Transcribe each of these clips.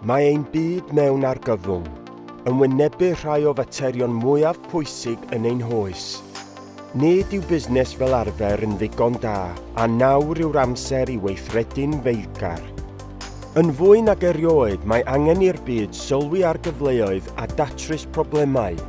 Mae ein byd mewn argyfwng yn wynebu rhai o faterion mwyaf pwysig yn ein hoes. Nid yw busnes fel arfer yn ddigon da, a nawr yw'r amser i weithredu'n feilgar. Yn fwy nag erioed, mae angen i'r byd sylwi ar gyfleoedd a datrys problemau.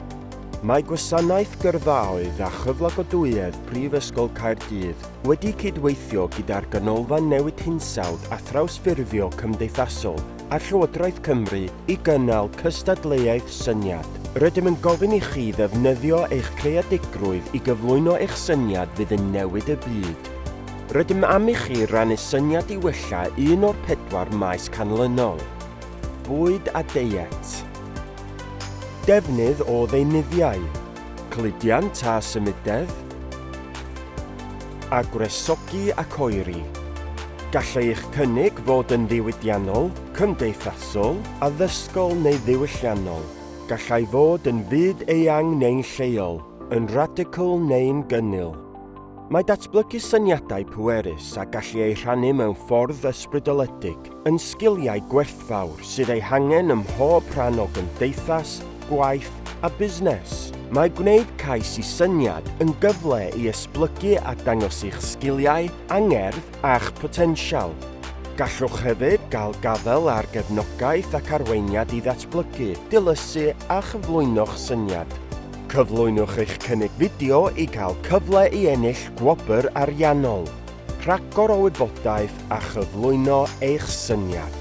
Mae Gwasanaeth Gyrfaoedd a Chyflogadwyedd Prifysgol Caerdydd wedi cydweithio gyda'r Ganolfan Newid Hinsawdd a Thrawsffurfio Cymdeithasol a Llywodraeth Cymru i gynnal cystadleuaeth syniad. Rydym yn gofyn i chi ddefnyddio eich creadigrwydd i gyflwyno eich syniad fydd yn newid y byd. Rydym am i chi rannu syniad i wella un o'r pedwar maes canlynol, Bwyd a Deiet, Defnydd o ddeunyddiau, cludiant a symudedd, a gwresogi ac oeri, gall eich cynnig fod yn ddiwydiannol, cymdeithasol, addysgol neu ddiwylliannol, gallai fod yn fyd eang neu'n lleol, yn radical neu'n gynnil. Mae datblygu syniadau pwerus a gallu eu rhannu mewn ffordd ysbrydoledig yn sgiliau gwerthfawr sydd eu hangen ym mhob rhan o gymdeithas, gwaith a busnes. Mae gwneud cais i syniad yn gyfle i esblygu a dangos eich sgiliau, angerdd a'ch potensial. Gallwch hefyd gael gafael ar gefnogaeth ac arweiniad i ddatblygu, dilysu a chyflwyno'ch syniad. Cyflwynwch eich cynnig fideo i gael cyfle i ennill gwobr ariannol, rhagor o wybodaeth a chyflwyno eich syniad.